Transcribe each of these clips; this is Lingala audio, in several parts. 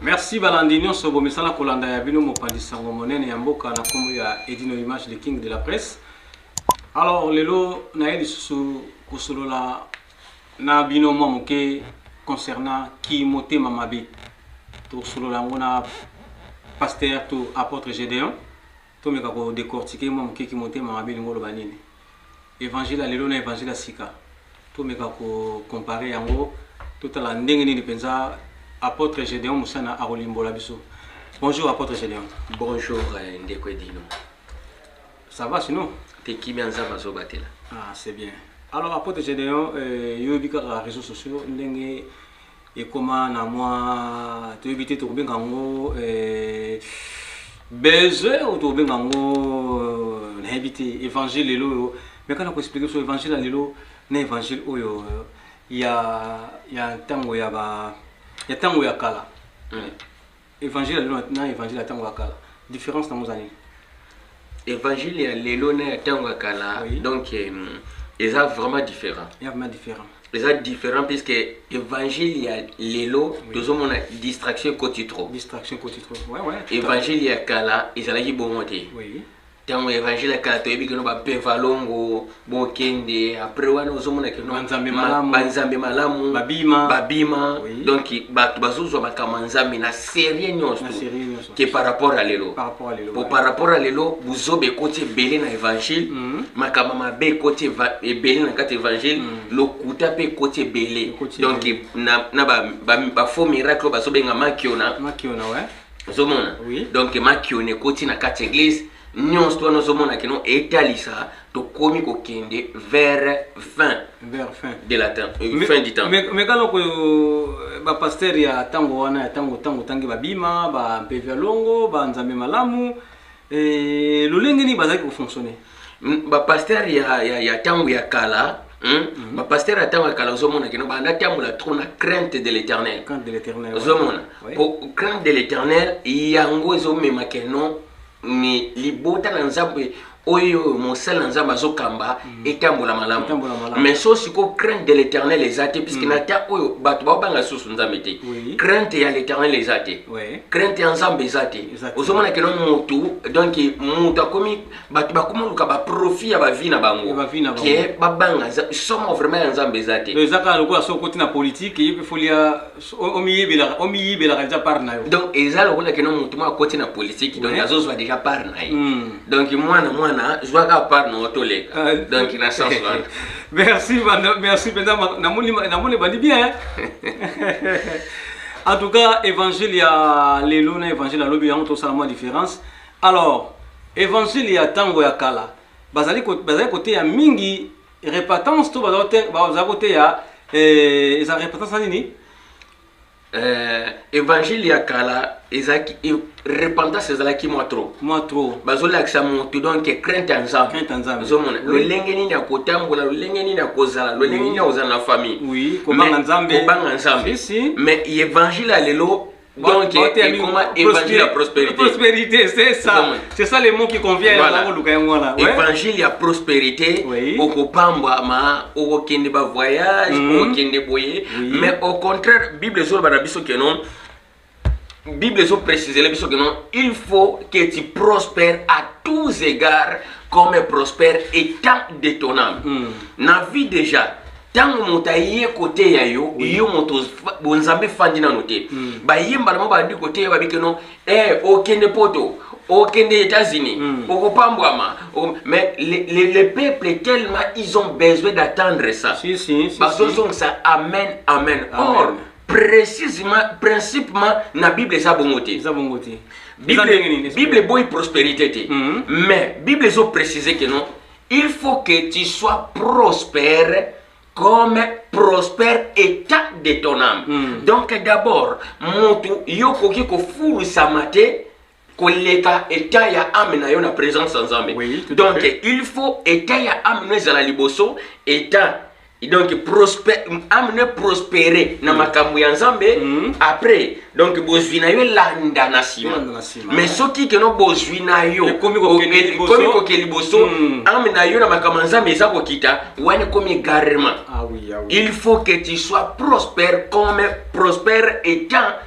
merci balandi nyonso bomesana kolanda ya bino mopanzi sango monene ya mboka na nkombo ya edino image le king de la presse alors lelo naye lisusu kosolola na bino mwa moke concernant kimotema mabe tosolola yango na pasteur to apôtre gedeon Tomeka ko decortiquer mwa moke ki motema mabe elingi koloba nini. Evangile ya lelo na Evangile ya sika, tomeka ko comparer yango, totala ndenge nini penza Apotre Gedeon Musana akolimbola biso. Bonjour Apotre Gedeon. Bonjour euh, ndeko Edino. Ça va sinon? Te kimia Nzambe azobatela. Ah, c'est bien. Alors Apotre Gedeon, euh, yoyebi kaka réseaux sociaux ndenge ekoma na mwa toyebi te tokobenga yango eh, beze oyo tokobenga yango eh, nayebi te évangile lelo oyo meka na koexplike so évangile ya lelo na évangile oyo eh, ya ya ntango ya ba ya ntango ya kala mm. Evangile ya lelo na evangile ya ntango ya kala difference nango eza nini? Evangile ya lelo na ya ntango ya kala oui. donc eza vraiment différent. Eza vraiment différent. eza différent puisque évangile ya lelo tozomona distraction ekoti trop évangile ya kala ezalaki bongo te ntango ya evangile ya kala toyebi kino bapevalongo bokende apres wana ozomona kino banzambe malamu babima, babima. Oui. donc bato bazozwa makambo ya nzambe na serie nyonso ke par rapport ya lelo po par rapport ya lelo buzoba ekoti ebele na evangile mm. makambo mabe ekoti ebele na kati evangile mm. lokuta mpe ekoti ebele donc na bafaux miracle oyo bazobenga makiona ozomona oui. donc makioni ekoti na kati eglise nyonso to wana ozomona kino etalisa tokomi kokende vers fin vers fin de la temps euh, fin du temps mais mais kala ko euh, ba pasteur ya tango wana ya tango tango tangi babima ba mpevi ya longo ba nzambe malamu Eh, lolenge nini bazalaki kofonctionne hmm, bapaster ya ntango ya kala hmm? mhm. bapaster ya ntango ya kala ozomona kino banda tambola trop na crainte de l'éternel ozomona po crainte de l'éternel yango ezomema keno ni libota na nzambe oyo mosali na nzambe azokamba mhm. etambola malamu mais so sikoyo crainte de l'éternel eza te puiske mhm. na ta oyo bato baobanga lisusu nzambe te crainte ya l'éternel eza te crainte ya nzambe eza te ozomona keno mutu donc mutu akomi bato bakomi oluka baprofit ya bavi na bango ke babanga somo vraiment ya nzambe eza te eza kaka lokola soki okoti na politike ye mpe foli ya omiyibelaka deja part na yo donc eza lokola keno mutu moko akoti na politike donc azozwa deja part na ye hmm. donc mwana mwana zwa kaka part na yo toleka ah, donc na sens wana merci merci mpenza namoni ebandi bien en tout cas évangile ya lelo na évangile ya lobi yango tosala mwa différence alors évangile ya ntango ya kala bazali koteya mingi repentance to bazali koteya eh, eza repentance na nini eh, évangile ya kala ezalaki repentance ezalaki mwa trop mwa trop bazolakisa motu donc crainte ya nzambe ozomona lolenge nini ya kotambola lolenge nini ya kozala lolenge nini ya kozala na famille kobanga nzambe mais évangile ya lelo Donc, évangile à prospérité. Prospérité, c'est ça. C'est ça les mots qui conviennent voilà. à ouais. Évangile à prospérité. Oui. Okopamba ma, okokende ba voyage, mm -hmm. okokende boye. Oui. Mais au contraire, Bible zolo banabiso que non. Bible ezo préciser biso que non, il faut que tu prospères à tous égards comme prospère étant détonnant. Mm. Na vie déjà ntango moto aye koteya yo oui. yo moto bonzambe efandi nano te mm. bayemba na bango bandi koteya babi keno eh, okende oh, poto okende oh, états-unis mm. okopambwama oh, ok mais les, les, les peuples tellement ils ont besoin d'attendre ça si, si, si, bazozongisa si. amen amen, amen. or precisement principement na bible eza bongo te eza bongo te bible bible eboyi prospérité te mhm. mais bible ezo préciser que non il faut que tu sois prospère comme prospère état de ton âme mm. donc d'abord motu yo okoki kofulisama te koleka eta ya ame na yo na presence ya nzambe oui, donc il faut eta ya ame no ezala liboso eta donc prosper, ame no prospere na mm. makambo ya nzambe mm. après donc bozwi na yo elanda na nsima mais soki keno bozwi na yo ekomi koke liboso mm. ame na yo na makambo ya nzambe eza kokita wana ekomi egarement ah, oui, ah, oui. il faut que tu sois prospère comme prospère etant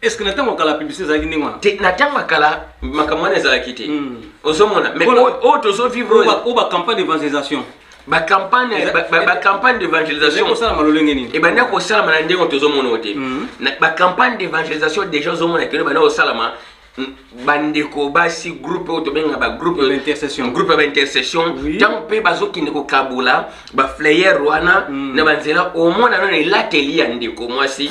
est ce que na ntango kala publicité ezalaki ndenge wana te na ntango kala makambo wana ezalaki te hmm. ozomona mais oyo tozovivre oyo bacampagne d'évangélisation bacampagne bacampagne d'évangélisation kosalama lolenge nini ebanda kosalama na ndenge tozomona oyo te hmm. bacampagne d'évangélisation déjà ozomona kino ebanda kosalama bandeko basi groupe oyo tobengaka bagroupe groupe ya baintercession ntango mpe bazokende kokabola baflayer wana hmm. na banzela omona nano elateli ya ndeko mwasi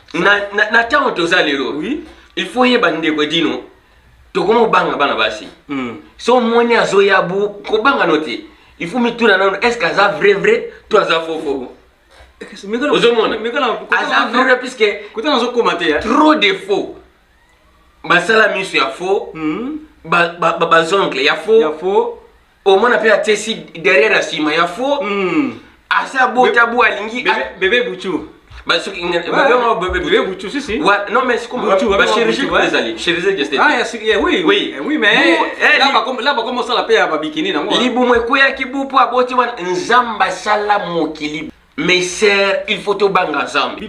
na ntango toza lelo il faut yeba ndeko edino tokoma kobanga bana basi hmm. so omoni azoya bu kobanga no te il faut mituna nano est ce que aza vrai vrai to aza fofo ozomona aza vrai vrai puisque trop de faux basala miso ya faux hmm. bazongle ya faux omona mpe atesi derrière ya nsima ya fo hmm. asi abota bo alingi bebe butu libumu ekweyaki bu mpo aboti wana nzambe asala mokili Mes sœurs, il faut to banga nzambe.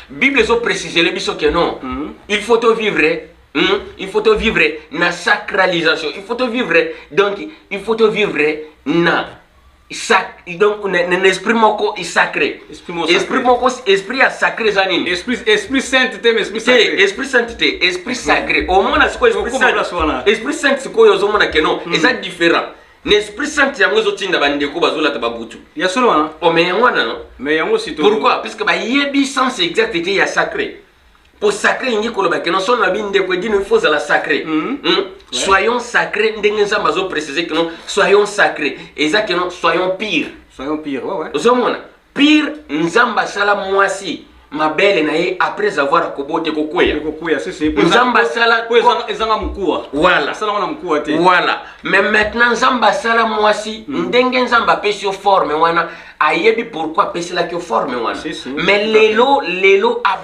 Bible ezo préciser le biso que non. Mm. Il faut to vivre mm, il faut to vivre na sacralisation. Il faut to vivre donc il faut to vivre na sac donc na, na, na esprit moko est sacré. Esprit moko esprit moko esprit ya sacré eza nini? Esprit esprit sainteté mais esprit sacré. Te, esprit sainteté, esprit sacré. Au moins na sikoyo esprit saint. Esprit saint sikoyo ozomona que non, mm. eza différent. na esprit sainte yango ezotinda bandeko bazolata babutu ya solo wana o oh, me yango wana no me yango sito pourquoi puisque bayebi sens exact ete ya sacré mpo sacré elingi koloba keno soki nabi ndeko edino ifo ozala sacré mm-hmm. hmm? soyons sacré ndenge nzambe azoprécise keno soyons sacré eza keno soyons pire soyons pire ozomona Pire Nzambe asala mwasi mabele na ye après avoir akobote kokweya kokweya sese nzambe asala po ezanga mokuwa voilà asala wana mokuwa te voilà mais maintenant nzambe asala mwasi mm. ndenge nzambe apesi yo forme wana ayebi pourquoi apeselaki yo forme wana mais lelo lelo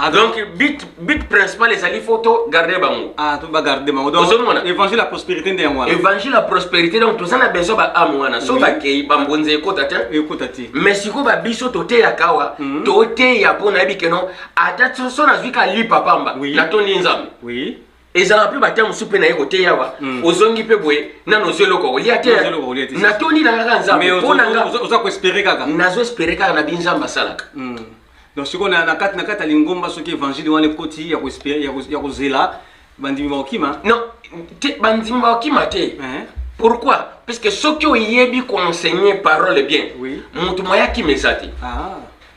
Ah, donc but but principal ezali fo to garde bango ah to ba garde bango donc ozomona évangile ya prospérité nde yango wana évangile ya prospérité donc toza na besoin ba ame wana so bakei bambonza ekota te ekota te mais sikoyo ba biso toteyaka awa mhm. toteya mpo nayebi keno ata so nazwi ka lipa pamba natondi nzambe oui ezalaka mpe batya mosusu mpe naye koteya awa mhm. ozongi mpe boye nano ozwi eloko kolia te natondi na kaka nzambe mpo na nga nazo espere kaka na binzambe asalaka mhm. Donc sikoyo na kati na kati ya lingomba soki evangile wana ekoti ya koespere ya kozela bandimi bakokima non te bandimi bakokima te eh. pourquoi puisque soki oyebi koenseigne parole bien motu moya kima eza te ah.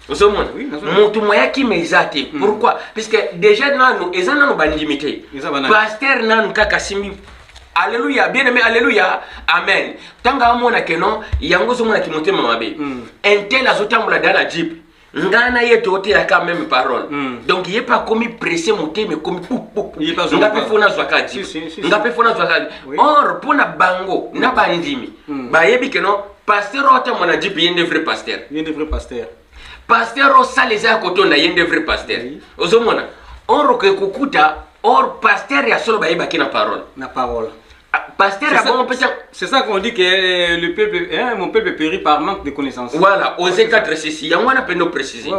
ozomona motu moya kima eza te hmm. pourquoi puisque déjà nanu eza nanu bandimi te paster nanu kaka asimbi Alléluia, bien aimé, alléluia, amen. Tanga amona que non, yango zo mona kimotema mabe. Mm. Intel azotambola dans la jeep. ngai na ye totelaka meme parole mm. donc ye mpe akomi presse motema ekomi nga mpe fo nazwaka di nga mpe fo nazwaka di or mpo na bango na bandimi mm. bayebi keno pasteur oyo atambo na jipe ye nde vrai pasteur pasteur osala eza ya kotonda ye nde vrai pasteur ozomona or okoki kokuta or pasteur ya solo bayebaki na parole na parole ah, pasteur ya bongo mpe c'est ça qu'on dit que euh, le peuple hein, mon peuple périt par manque de connaissance voilà aux états ceci yango wana mpe ndo précise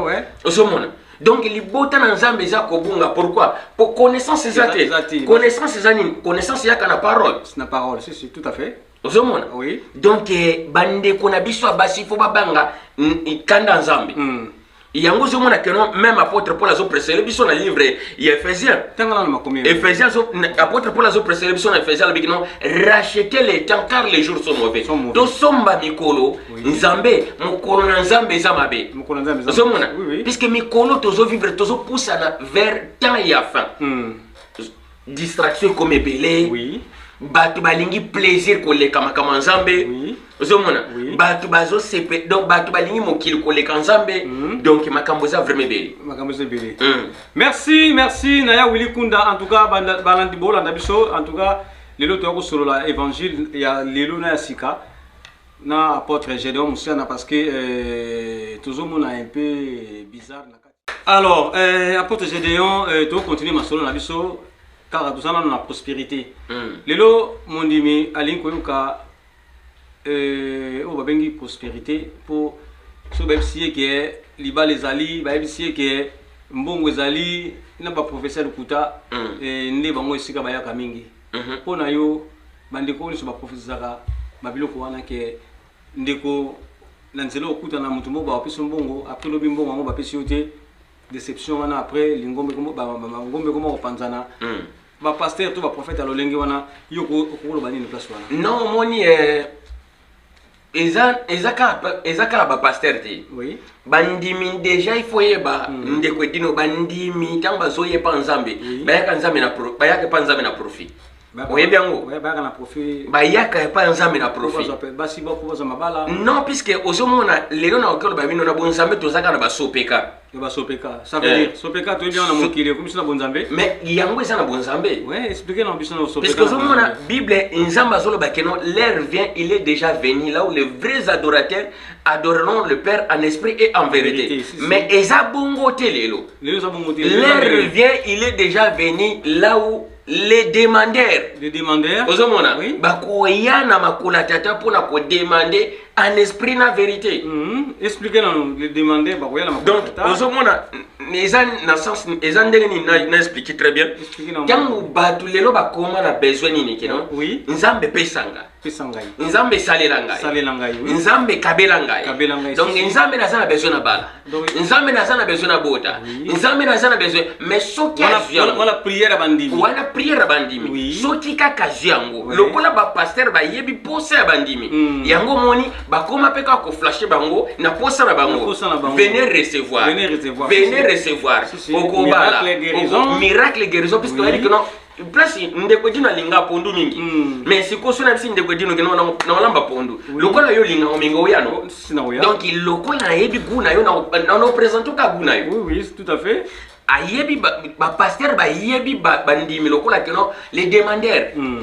ozomona donc libota na nzambe eza kobunga pourquoi po connaissance eza te connaissance eza nini connaissance eyaka na parole na parole si si tout à fait ozomona oui. donc eh, bandeko na biso ya basi fo babanga kanda nzambe mm. yango ozomona keno meme apôtre paul azopresele biso na livre ya ephésien ephésien apôtre paul azopresele biso na ephésien alobiki no rachete le temps car les jours sont mauvais tosomba mikolo nzambe mokolo na nzambe eza mabe ozomona puisque mikolo tozovivre tozopusana vers temps ya fin mm. distraction ekomi ebele oui. bato balingi plaisir koleka makambo ya nzambe oui. ozomona oui. bato bazosepe donc bato balingi mokili koleka nzambe mm. donc makambo eza vraiment ebele makambo eza ebele mm. merci merci naya willi kunda en tout cas balandi bolanda biso en tout cas lelo toya kosolola évangile ya lelo na ya sika na apôtre gédéon mosiana parce que euh, tozomona un peu bizarre alors euh, apôtre gédéon euh, tokocontinue masolo na biso kaka toza nano na prospérité mm. lelo mondimi alingi koyoka euh, oyo babengi prospérité mpo soki bayebisi ye ke libala ezali bayebisi ye ke mbongo ezali na baprofesseur lokuta mm. eh, nde bango esika bayaka mingi mpo mm -hmm. na yo bandeko oyo nyonso baprofesezaka babiloko wana ke ndeko na nzela okuta na moto moko bapesi mbongo après lobi mbongo yango bapesi yo te déception wana après lingombe ngombe koma kopanzana hmm. bapaster to baprofete ya lolenge wana yo okoloba nini place wana non omoni eh, eza kaka bapaster te bandimi déjà il faut yeba hmm. ndeko edino bandimi ntango bazoyepa nzambe bayaka nzambe na profit oyebi yango bayaka epa ya nzambe na profinon puiske ozomona lelo na oki oloba bino na bonzambe tozaka na basopeka yango eza na bonzambepuiske ozomona bible nzambe azoloba keno l'air vient il est déjà venu là où les vrais adorateurs adoreront le père en esprit et en vérité mais eza bongo te lelo l'air vient il est déjà venu là où les demandeurs les demandeurs ozomona oui. bakoya na makolo ya tata mpo na kodemande en esprit na vérité mm -hmm. explique nano les demandeurs bakoya na makolo donc ozomona eza na sens eza ndenge nini na explique très bien ntango bato lelo bakoma na besoin nini kino oui. nzambe pesanga pesa ngai nzambe salela ngai salela ngai oui. nzambe kabela ngai kabela ngai donc si, nzambe naza na besoin na bala donc, nzambe naza na besoin na bota oui. nzambe naza na besoin mais soki azwi wana prière ya bandimi wana prière ya bandimi oui. soki kaka azwi yango oui. lokola bapastere bayebi posa ya bandimi mm. yango omoni bakoma mpe kaka koflashe bango na posa na bango venez recevoir venez recevoir okobala miracle guérison puisque oyebi kino place ndeko edino alinga pondu mingi mm. mais sikoyo so nayebisi ndeko edino ke naolamba pondu oui. lokola yo olinga ominga oyano oh, donc lokola nayebi gu na yo naopresente oka gu na yo oui, oui, tout à fait ayebi bapaster ba bayebi bandimi ba lokola keno les demandeurs mm.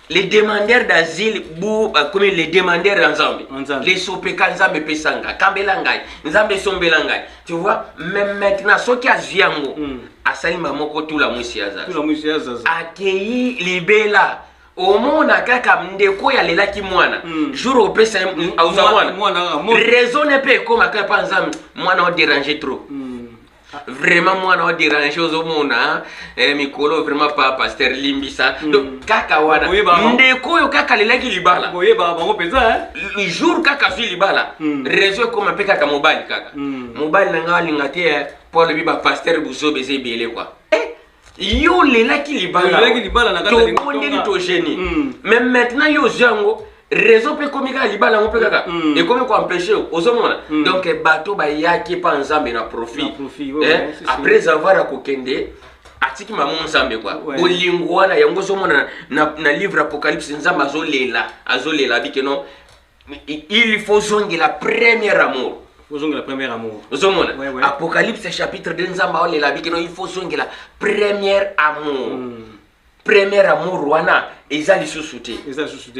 les demandeurs d'asile bu bakomi les demandeurs ya nzambe lesopeka nzambe epesa ngai kambela ngai nzambe esombela ngai tu vois mais maintenant soki azwi yango hmm. asali ma moko tula mwisi ya zaza akei libela omona kaka ndeko oyo alelaki mwana hmm. jour opesa auza mwana raisonne mpe ekoma kaka mpa nzambe mwana oderange trop mm. vraiment mwana wa derange ozomona hein? eh, mikolo vraiment pa pasteur limbisa mm. donc kaka wana ndeko oyo kaka alelaki libala boyeba bango mpenza hein? jour kaka azwi libala mm. réseau ekoma mpe kaka mobali kaka mm. mobali na ngai alinga te eh, mpo alobi bapaster buzoba eza ebele kua yo olelaki libala libala na kati tobondeli togeni hmm. mais maintenant yo ozwi yango réseau mpe ekomi kaka libala yango mpe kaka hmm. ekomi koempêche yo ozomona hmm. donc eh, bato bayaki mpa nzambe na profit eh, après avoir ya kokende atiki mamo nzambe kwa bolingo wana yango ozomona na livre apocalypse nzambe azolela azolela abike non il faut zongela premier amour ozongela premier amour ozomona ouais, ouais. apocalypse chapitre 2 nzambe aolela bikino il faut zongela premier amour mm. premier amour wana eza lisusu te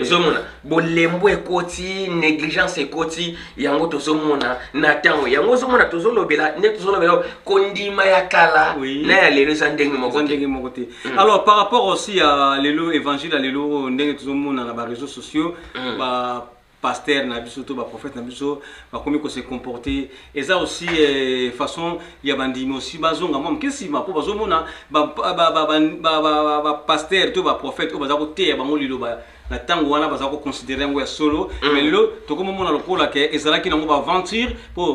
ozomona bolembo ekoti négligence ekoti yango tozomona na ntango yango ozomona tozolobela nde tozolobela kondima ya kala oui. na ya lelo eza ndenge moko ndenge moko te mm. alors par rapport aussi ya lelo évangile ya lelo ndenge tozomona na bareseau sociaux mm. ba pasteur na biso to baprophète na biso bakomi kose comporte eza aussi eh, façon ya bandimi aussi bazonga mwa moke nsima mpo bazomona bapasteur to baprophète oyo baza koteya bango liloba na ntango wana baza koconsidere yango ya solo mm. mais lelo tokomomona lokola ke ezalaki nango baaventure mpo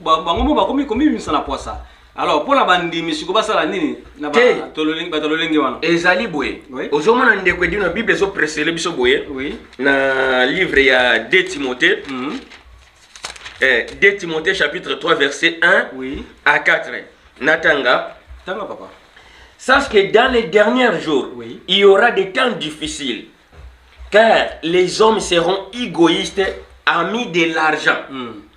bango mo bakomi komibimisa na pwasa alors mpo na bandimi siko basala nini na Te. ba- tololenge- bato ya lolenge wana ezali boye Oui. ozomona ndeko edino bible ezopresele biso boye oui na livre ya 2 timothée Mhm. eh, 2 timothée chapitre 3 verset 1 oui à 4 natanga tanga papa sache que dans les derniers jours Oui. il y aura des temps difficiles car les hommes seront égoïstes amis de l'argent Mhm.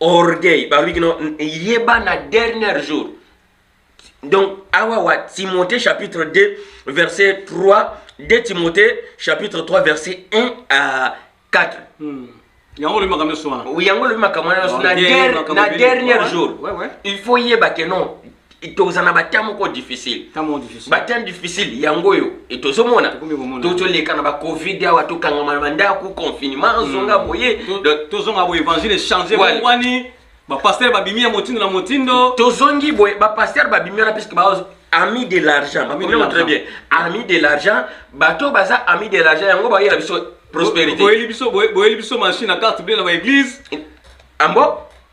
orgueil balobi kino yeba na dernier jour donc awa wa timothée chapitre 2 verset 3 2 timothée chapitre 3 verset 1 à 4 hmm. yango olobi makambo nyonso wana yango olobi makambo wana nyonso na dernier jour il faut yeba ke non toza na batemp moko difficile batemp difficile yango oyo e tozomona tozoleka na bacovid awa tokangama na bandako confinement hmm. zonga boye tozonga boye évangile echange wani bapaster babimi ya motindo na motindo tozongi boye bapaster babimi wana puisque ami de l'argent bakomema très bien ami de l'argent bato baza ami de l'argent yango bayela biso prospérité boyeli biso machine na carte bie na baeglise ambo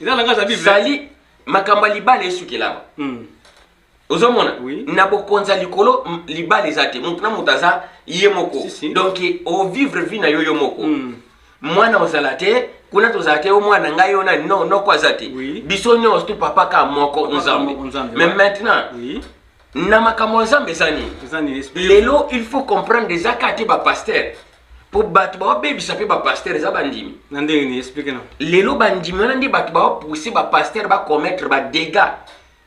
eza langage ya bible sali makambo ya libala esukelama hmm. ozomona oui. na bokonzi ya likolo libala eza te moto na moto aza ye moko si, si. donc ovivre vie na yo yo moko mm. mwana ozala te kuna tozala te yo mwana ngai yo nani no noko aza te oui. biso nyonso tu papa ka moko nzambe mais maintenant oui. na makambo ya nzambe eza nini lelo il faut comprendre eza ka te bapaster mpo bato baobebisa mpe bapastere eza bandimi na ndenge nini explike na lelo bandimi wana nde bato baopousse bapastere bacommettre badégats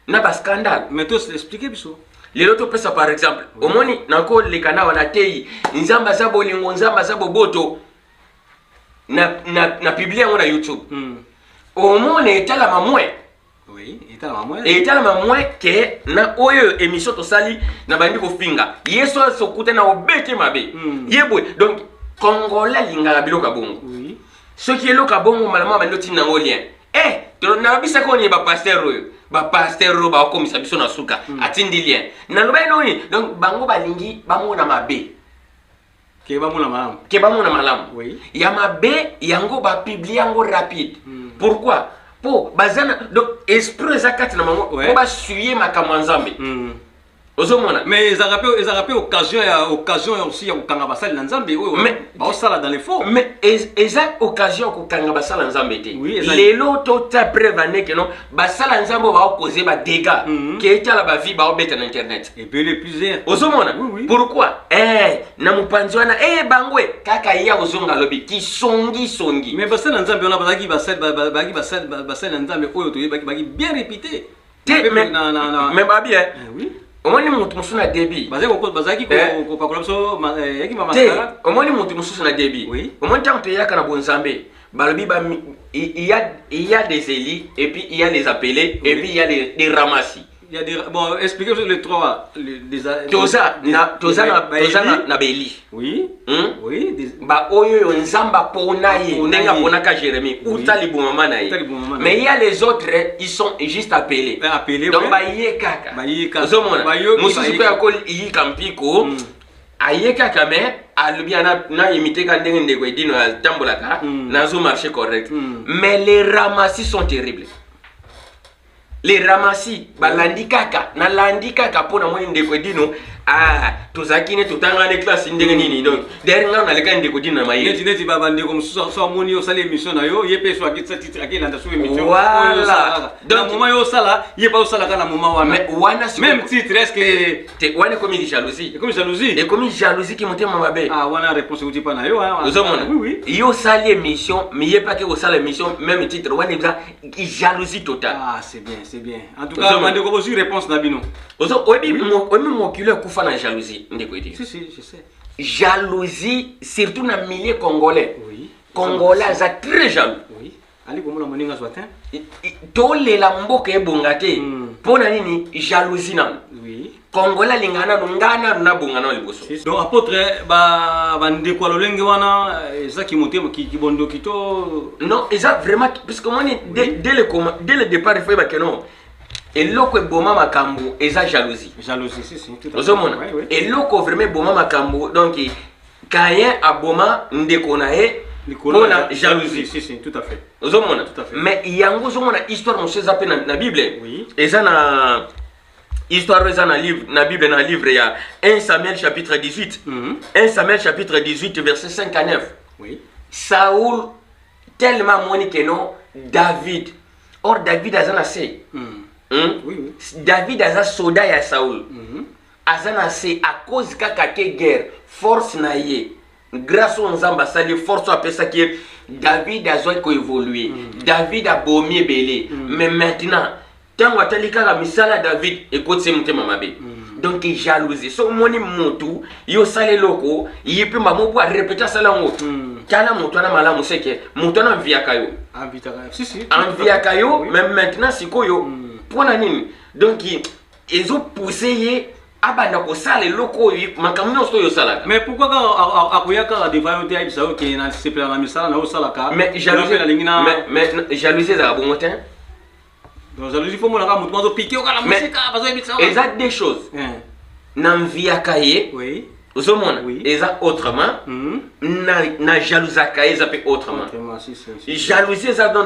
na bascandale mais to explike biso lelo topesa par exemple mm. omoni nakoleka na wana teyi nzambe aza bolingo nzambe aza boboto na, na, na publie yango na youtube mm. omona etalama mwe Oui, etalama moins. Etalama moins que na oyo émission tosali na bandi kofinga. Yesu asokuta na obete mabe. Mm. Yebwe donc congolais lingala biloko ya bongo. Oui. Soki eloko ya bongo malama bandi otinda yango lien. Eh, nalobisa ko ni ba pasteur oyo. Ba pasteur oyo baokomisa biso na suka. Mm. Atindi lien. Naloba ye noni donc bango balingi bamona mabe. keba mona malamu keba mona malamu oui. ya mabe yango bapiblie yango rapide mm. pourquoi mpo baza na donc esprit eza kati na bango mpo basuye makambo ya nzambe mm. ozomona mais ezalaka mpe ezalaka mpe occasion ya occasion ya aussi ya kokanga basali na nzambe oyo baosala dans l'effort mais eza occasion ya kokanga basala nzambe te lelo tota preuve aneke non basala nzambe ba cause ba dégâts mm -hmm. la ba vie ba obeta na internet et puis les plusieurs ozomona oui, oui. pourquoi eh na mupanzi wana eh bangwe kaka ye akozonga lobi ki songi songi mais basala nzambe wana bazaki basala bazaki basala basala nzambe oyo to yebaki baki bien réputé te mais na na na mais ba bien eh, oui omoni mutu mosusu na debi bazalaki eh. kopakola biso eh, yaki mamasala omoni mutu mosusu na debi omoni ntango toyaka na bonzambe balobi ba il y a il y a des élus et puis il y a les appelés oui. et puis il y a les, les ramassis il y a des bon expliquez les trois les, les toza les, na toza na toza na, na beli oui hmm? oui des... ba oyo yo nzamba pona ye ndenge pona ka Jérémie oui. uta libumama na ye mais il y a les autres ils sont juste appelés ben, appelés donc ouais. ba ye kaka ba ye kaka ozomona mususu pe akol yi kampiko mm. aye kaka me alobi ana na imite ka ndenge ndeko edino atambolaka mm. nazo marché correct mm. mais les ramassis sont terribles les ramassis balandi kaka nalandi kaka mpo namoni ndeko edino ah, tozalaki ne totangani classe ndenge nini donc derrière ngai nalekaki ndeko edino na maye neti neti babandeko mosusu so amoni osali émission na yo ye mpe so akilanda so émission voilà donc moment yo osala ye mpe osalaka na moment wana wana même titre est ce que te wana ekomi jalousie ekomi jalousie ekomi jalousie ki motema mabe ah wana réponse euti mpa na yo ozomona yo osali émission miyebaki kosala émission même titre wana eza jalousie totale ah c'est bien c'est bien en tout cas bandeko bozwi réponse na bino oyebi mokilo ekufa na jalousie ndeko ete si si je sais jalousie surtout na milieu congolais oui. congolais aza très jaloux oui. ali komona moninga azwa te tolela mboka ebonga te hmm. mpo na nini jalousie nano congolais alingaka nano ngai nano nabonga nao liboso donc apôtre bandeko ya lolenge wana eh, eza kimotema kibondoki to non eza vraiment puisque omoni dès le départ efai bakeno eloko eboma makambo eza jalousie jalousie si si ozomona eloko vraiment eboma makambo donc Caïn aboma ndeko na ye mpo na jalousie si, si, tout à fait ozomona tout à fait mais yango ozomona histoire mosusu eza mpe na, na bible oui. eza na histoire eza na livre na bible na livre ya 1 samuel chapitre 18 mm -hmm. 1 samuel chapitre 18 verset 5 à 9 oui. saul tellement amoni ke non david or david aza na se mm. mm? oui, oui. david aza soda ya saul mm -hmm. aza na se à cause kaka ke guerre force na ye grâce oyo nzambe asali ye force oyo apesaki ye david azwaki koevolue mm. david abomi ebele mm. mais maintenant ntango atali kaka misala ya david ekotisi ye motema mabe mm. donc jalousie soki omoni motu yo osala eloko ye mpe mbamo po arepete asala yango mm. tala moto wana malamu seke moto wana anviaka yo anviaka yo mais maintenant sikoyo mpo mm. na nini donc ezo pouse ye abanda kosala eloko oyo makambo nyonso oyo osalaka mais pourquoi kaka akoya kaka devant yo te ayebisa yo ke na sepela na misala na yo osalaka mais jalousie ezalaka bongo te donc jalousie fo monaka motu bazo pike yo kala mosika bazo yebisa eza deux choses na mviaka ye oui ozomona oui. eza autrement mm -hmm. na, na jalousaka ye eza mpe autrement jalousie eza dans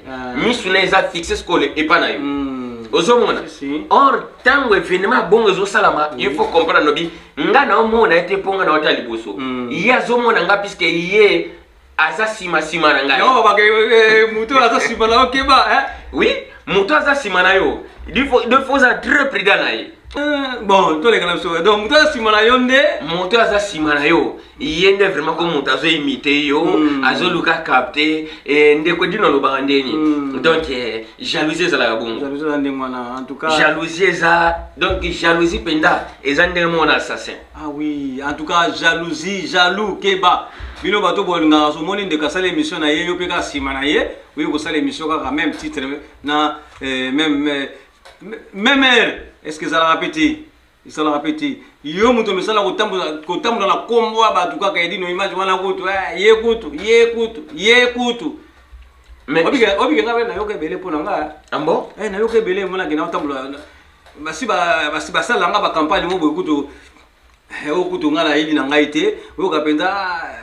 ah. misu na eza fixe sikole epa na yo hmm. ozomona or ntango evenema ya bongo ezosalama hmm. il faut comprendre lobi nga na omona ye te mpo nga na ota liboso hmm. ye azomona nga puiske ye aza nsima nsima na ngai eh, eh, moto aza nsima na yo keba eh? oui moto aza nsima na yo defo oza très prudent na ye bon toleka na biso donc moto aza nsima na yo nde moto aza nsima na yo ye nde vraiment ko moto azo imite yo mm. azoluka capte eh, ndeko dino alobaka nde nini mm. donc eh, jalousie ezalaka bongo jalousie eza donc jalousie mpenza eza ndenge moko na assassin ah oui en tout cas jalousie jaloux keba bino bato bolingaka somoni ndeko asala émission na ye yo mpe kaka nsima na ye oye kosala émission kaka même titre na eh, même eh, même heure est ce que ezalaka mpe te esalaka mpe te yo moto omesana kotambola na nkombo ya bato kaka edino image wana kutu eh, ye kutu ye kutu ye kutu obike nga mpe nayoka ebele mpo na nga ambo ah eh, nayoka ebele mpo nakenda kotambola basi basala nga bacampagne mo boye kutu eh, oyo kutu nga nayebi na ngai te oyoka mpenza ah,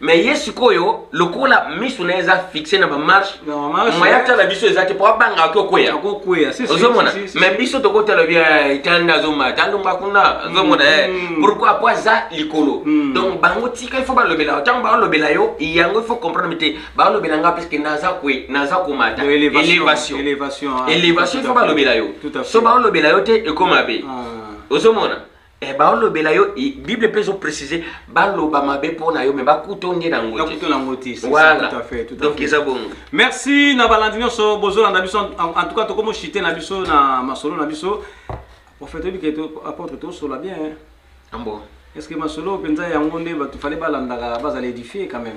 mais ye sikoyo lokola misu na ye eza fixe na bamarche moya tala biso eza te mpo abanga ake okweya ozomona mais biso tokotala bia etala nde azomba ta alonga kuna azomona ye pourkui mpo aza likolo hmm. donc bango tika ifo balobela ntango balobela yo yango ifo comprendre te balobela nga puiske naza kwe naza komata élévation élévation ah, ifo balobela yo so balobela yo te ekoma be ah. ozomona Eh, baolobela yo bible mpe ezo précise baloba mabe mpo na yo me bakuta onge na ngo donc eza bongo merci na balandi nyonso bozolanda biso en tout cas tokomo chite na biso na masolo na biso prophète oyebi ke apôtre tosola bien ambo est ce que masolo mpenza yango nde bato fale balandaka bazala édifie quand même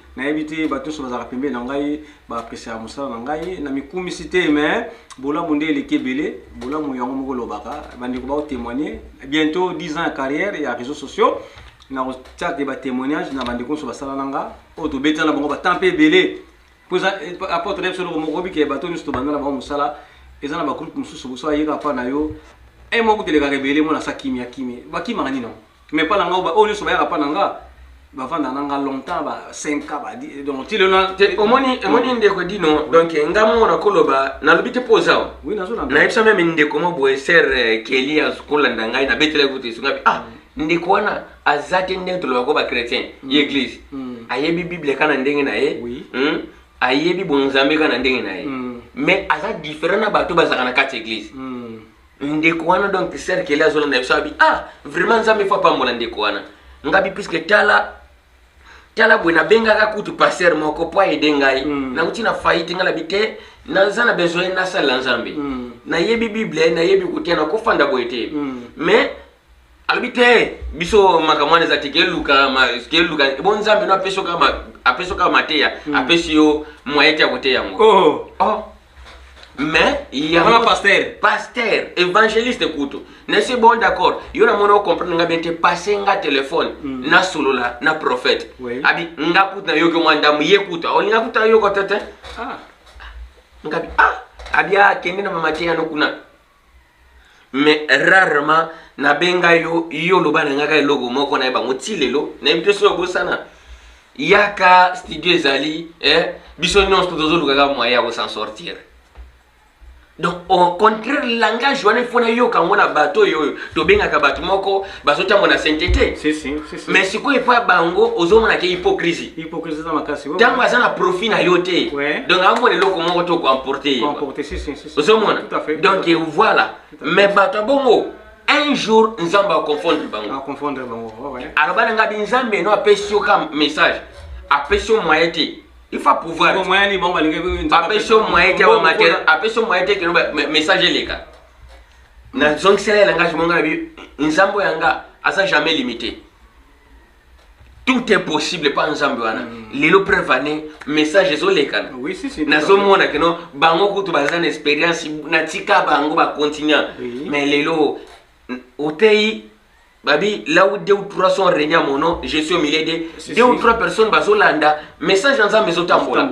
nayebi te bato nyonso bazalaka pembeni na ngai baapresiaka mosala na ngai na mikumisi te me bolamu nde eleki ebele bolamu yango moko olobaka bandeko baotemoigne bientôt 10 ans ya carrière ya réseau sociaux nakotiake batémoignage na bandeko nyonso basala na nga oyo tobetela na bango batemp mpe ebele mpo eza eh, apporte na biso eloko moko obike bato nyonso tobanda na bango mosala eza na bagroupe mosusu boso ayeka mpa na yo e eh, moko telekaka ebele mona sa kimia kimia bakimaka nini yango mais pa na nga ba oyo nyonso bayaka pa na nga bavanda na nga longtemps ba 5 ans ba di- donc ti lelo na- te omoni omoni ndeko dino donc nga moko nakoloba nalobi te mpo oza awa. oui nazolanda nayebisa meme ndeko mwa boye ser keli akolanda ngai nabetelaki kutu esunga bi ah ndeko wana aza te ndenge tolobaka ko bachrétien ye église Mm. ayebi bible kaka na ndenge na ye Oui. Hmm? ayebi bonzambe kaka na ndenge na ye Mm. mais aza différent na bato bazalaka na kati ya église Mm. ndeko wana donc cercle azolanda biso abi ah vraiment nzambe fo apambola ndeko wana ngabi puiske tala tala boye nabengaka kutu paster moko mpo aede ngai mm. nakuti na faillite ngai nabi te naza na besoin nasalela nzambe mm. nayebi bible nayebi kotia nakofanda boye te mm. mais alobi te biso makambo wana eza te keluka keluka bo nzambe no apesi oka apesi oka mateya hmm. apesi yo moyen te ya koteya yango oh. oh. mais yango pasteur pasteur évangéliste kutu nasi bon d'accord yo na mona ocomprendre nga bien te passe nga téléphone mm. nasolola na prophète oui. abi nga kutu nayoki mwa ndambo ye kutu aolinga kutu ayoko te te ah. ngabi ah abi akende na mama te yano kuna mais rarement nabenga yo yo oloba na ngaka eloko moko na ye bango ti lelo nayebi te soki obosana yaka studio ezali eh, biso nyonso tozolukaka moyen ya kosan sortir donc au contraire langage wana ifo nayoka yango na bato oyo oyo tobengaka bato moko bazotambola na sente te si, si, si, si. mais sikoyo epa bango ozomona ke hypocrisie hypocrisie eza makasi ntango aza na profit na yo te donc amona eloko moko to koemporte ye ozomona donc voilà mais bato ya bongo un jour nzambe aconfondre bango aloba na ngai binzambe no apesi yo ka message apesi yo moye te il faut pouvoir apesi yo moye te apesi yo moye te keno message eleka na zongisela ye langage monga na bi nzambo yanga aza jamais limité tout est possible pa nzambe wana mm. lelo preuve ane message ezolekana oui, si, si, nazomona keno bango kutu baza na expérience natika bango bacontinua oui. mais lelo oteyi babi là où deux ou trois sont régnés à mon nom je suis au milieu de si, deux si. ou trois personnes bazolanda message ya nzambe ezotambola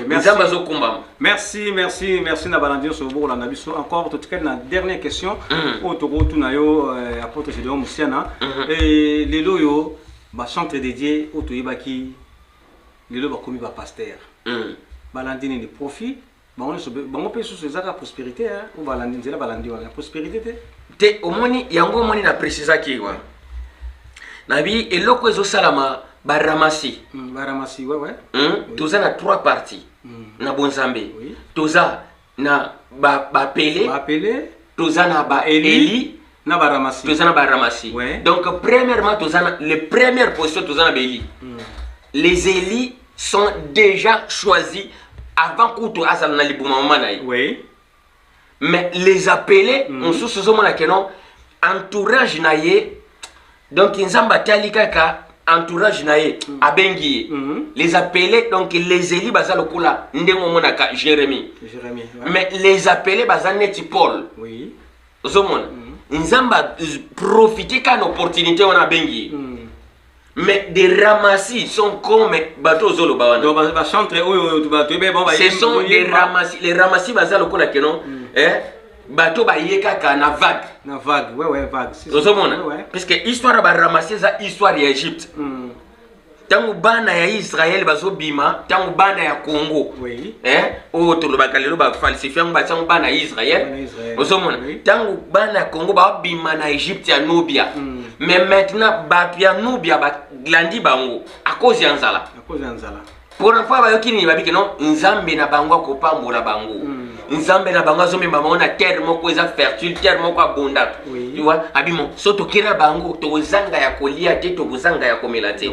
nzambe azokumbama merci merci merci na balandi nyonso bokolanda biso encore totikali na dernière question mm. oyo tokotuna yo euh, apôtre gédéon mosiana mm-hmm. et lelo oyo bacentre dédié oyo toyebaki lelo bakomi bapaster mm. balandi nini profit bango nyonso bango mpe susu eza kaka prosperité hein, oyo balandi nzela balandi wana prosperité te te omoni yango omoni na précisaki wana nabi eloko ezosalama baramasi mm, baramasi ouais, ouais. Mm, oui. toza na trois parties mm. na bonzambe oui. toza na bapele ba toza na baeli na ba ramassis toza na ba ramassis ouais. donc premièrement toza na les premières positions toza na beli mm. les élus sont déjà choisis avant kutu azala na libuma mama na ye oui. mais les appelés mm. mosusu ozomona ke non entourage na ye donc nzambe atali kaka entourage na ye mm. abengi ye mm -hmm. les appelés donc les élus baza lokola ndenge omonaka jérémie, jérémie ouais. mais les appelés baza neti paul oui. ozomona mm. nzambe aprofite ka na opportunité wana abengi ye mm. mais des ramassis sont comme bato ozoloba wanabacentre oyo ce sont des ramassis les ramassis baza lokola keno mm. eh? bato baye kaka na vague na vague ouais, ouais, vague ozomona ouais, ouais. puisque histoire ya baramassi eza histoire ya egypte mm. ntango bana ya israele bazobima ntango bana ya congo oui. eh, oyo oh, tolobaka lelo bafalsifie yango batiango bana ya israele ozomona ntango oui. bana ya congo babima na egypte ya nubia mm. mais maintenant bato ya nubia balandi bango akozi ya nzala mpona mpo bayoki nini babike no nzambe na bango akopambola bango mm. nzambe na bango azomema bango na terre moko eza fertile terre moko abondaka iwa abimo so tokei na bango tokozanga ya kolia te tokozanga ya komela te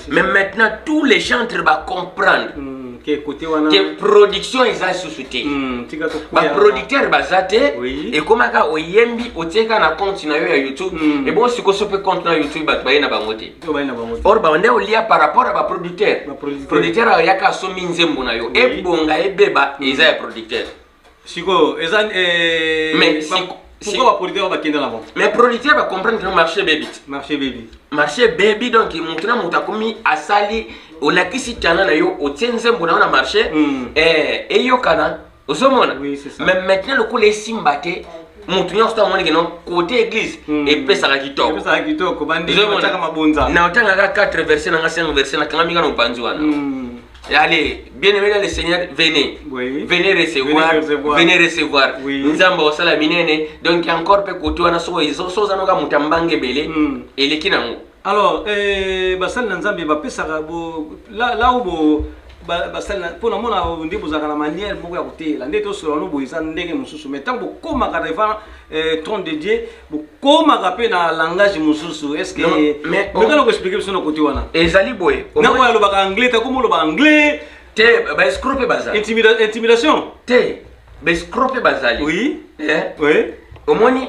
mais maintenant tous les gentres bacomprendre mm, ke production eza lisusu te mm, baproducteur baza te ekomaka oyembi otieka na compte na yo ya youtube ebongo sikoso mpe compte na youtube bato baye na bango te or banda olia par rapport ya baproducteur producteur ayaka asombi nzembo na yo ebonga ebeba mm. eza ya producteur sikoyo eza eh, mais pourquoi baproducteur bakenda na bango mais producteur bacomprendre que marché bebi marché bebi marché bebi donc motu na motu akomi asali olakisi tana na yo otie nzembo na yo na marché mm. eh, eyokana ozomona mais maintenant lokola esimba te motu nyonso to amoni keno kote église hmm. epesaka kitokona otangaka 4 verset nanga 5 verset nakangami nga na mopanzi wana hmm. Allez, bien aimé dans le Seigneur, venez. Oui. Venez recevoir. Venez recevoir. Venez recevoir. Oui. Nzamba osala minene. Donc encore pe koto wana so so zanoka mutambange bele. Mm. Eleki nango. alors eh, basali na nzambe bapesaka lau bo basali mpo na mona nde bozalaka na manière moko ya koteyela nde tosolola no boye eza ndenge mosusu mais ntango bokomaka devant eh, trône de dieu bokomaka mpe na langage mosusu est ce kemekana oh. koexplike biso na kote wana ezali boye nako alobaka anglais ta komi oloba anglais te baescro mpe bazali intimidation te baescro mpe bazali oui eh? oui omoni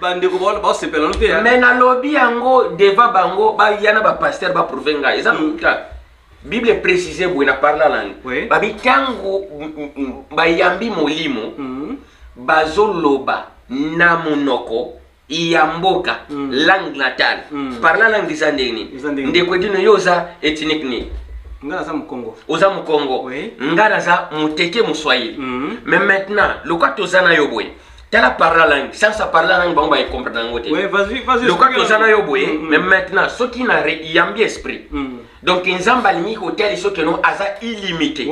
bandeko baosepela no te me nalobi yango devant bango baya na bapaster baprouve ngai eza lokuta mm. bible eprécise boye na parla lange oui. babi ntango bayambi molimo mm. bazoloba na monoko ya mboka mm. langue natale mm. parla langue eza ndenge nini ndeko edino yo oza ethnique nini nga naza mokongo oza mokongo oui. nga naza moteke moswahili mm. mais maintenant lokola toza na yo boye tala parla langue sasa parla langue bango baecomprendre yango te loka toza na yo boye mm, mm. mais maintenant soki na yambi esprit mm. donc nzambe alingi kotia liso keno aza illimité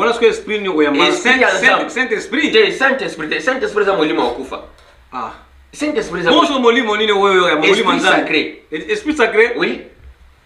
saint esprit te saint esprit te saint esprit eza molimo ya kufa ah. saint esprit bonso molimo nini oyo ya molimo nzambe esprit sacré oui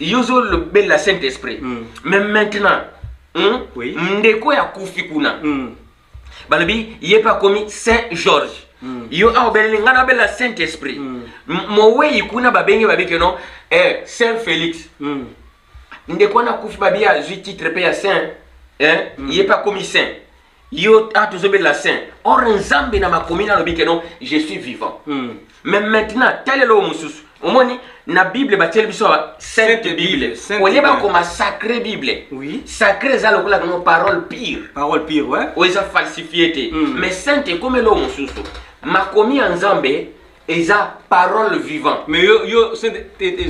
yo ozolobela saint esprit mm. mais maintenant mm, oui. ndeko ya kufi kuna mm. balobi ye mpe akomi saint george mm. yo awa obeleli ngai nabela saint esprit mm. mowei kuna babenge babike no eh, saint félix mm. ndeko wana akufi babi azwi titre mpe ya saint eh? mm. ye mpe akomi saint yo ah, tozobelela saint or nzambe na makomi nalobi ke non je suis vivant mm. mais maintenant talelo mosusu omoni na bible batieli biso sainte bible oye bakoma sacré bible oui. sacré eza lokola kano parole pire parole pire ouais. oyo eza falsifie te mm. mais sainte ekomeli oyo mosusu makomi ya nzambe eza parole vivant mais yo yo saint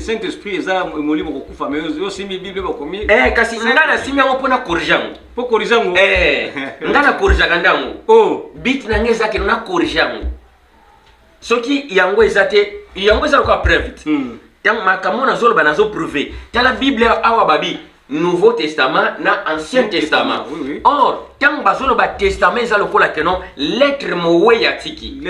saint esprit eza molimo kokufa mais yo simi bible bakomi eh kasi nga na simi yango pona corrige yango po corrige yango eh nga na corrige ka ndango oh bit na nga eza ke na corrige yango soki yango eza te yango eza lokola preuve te hmm. ntango makambo nazoloba nazoprouve tala bible awa babi nouveau testament na ancien testament or ntango bazoloba testament eza lokola keno lettre moweyi atiki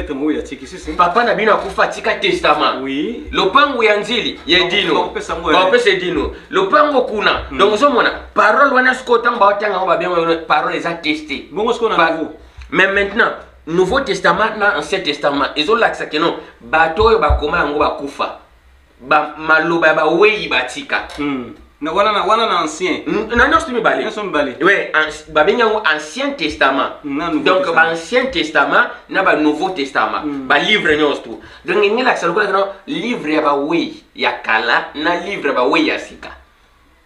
papa na bino akufa atika testament lopango ya nzili ya edino baopesa edino lopango kuna hmm. donc ozomona parole wana sikoyo ntango baotanga yango babenga parole eza teste mais maintenant nouveau testament na ancien testament ezolakisa keno bato oyo bakoma yango bakufa ba maloba ya baweyi batika mm. na wana na wana na ancien mm, na nyonso mibale nyonso mibale ouais babengi yango ancien testament mm, donc ba ancien testament na ba nouveau testament mm. ba livre nyonso tu donc ngi lakisa lokola kana livre ya baweyi ya kala na livre ya baweyi ya sika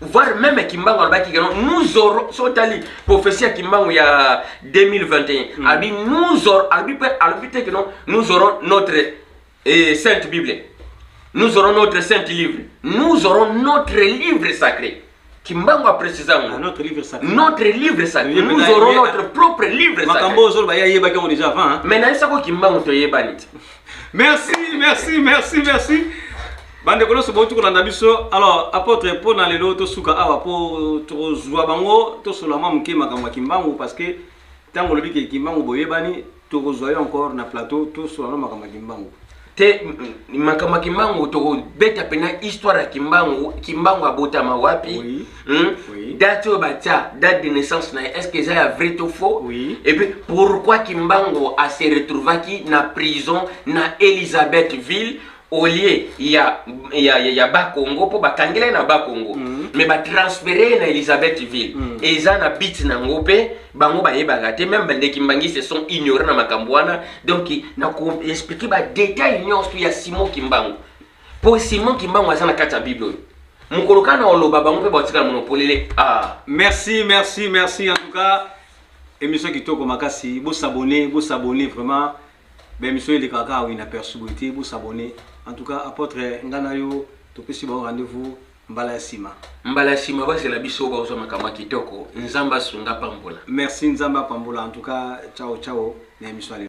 voire meme kimbangu alobaki que nous aurons so otali prophétie ya kimbangu ya 2021 mm. alobi nous aurons alobi mpe alobi te que non nous aurons notre eh, sainte bible nous aurons notre sainte livre nous aurons notre livre sacré kimbangu aprécisa ngo ah, notre livre sacré notre livre sacré nous aurons notre propre livre sacré makambo ozoloba ye ayebaki yango déjà avant mais nayebisako kimbangu toyebani te Merci, merci, merci, merci. Bande kono so botu kolanda biso. Alors, apôtre po na lelo to suka awa po to zwa bango to solama muke makambo ya Kimbangu parce que tango lobi ke Kimbangu boyebani to kozwa yo encore na plateau to solama makambo ya Kimbangu. te makambo ya kimbangu tokobeta mpena histoire ya kimbangu kimbangu abotama wapi Oui. Hmm? Oui. Date oyo batia date de naissance na ye est-ce que eza ya vrai to faux? Oui. Et puis pourquoi Kimbangu a se retrouvaki na prison na Elisabethville au lieu ya ya ya, ya Bakongo mpo bakangela ye na Bakongo mm -hmm. mais batransfere ye na Elisabethville mm -hmm. eza na bit na yango mpe bango bayebaka te meme bande kimbangi se sont ignorant na makambo wana donc na koexplike badetail nyonso ya Simon Kimbangu Po Simon Kimbangu aza na kati ya Bible oyo. Mokolo kaka na oloba bango mpe batikala mono polele. Ah. Merci, merci, merci en tout cas. Émission kitoko makasi. Bo s'abonner, bo s'abonner vraiment. Ba émission eleka kaka wina perçu boye te, bo s'abonner. En tout cas, apôtre ngana yo topesi bango rendez-vous mbala ya nsima mbala ya nsima bazela biso bakozwa makambo ya kitoko nzambe asunga pambola merci nzambe apambola en tout cas ciao ciao na emission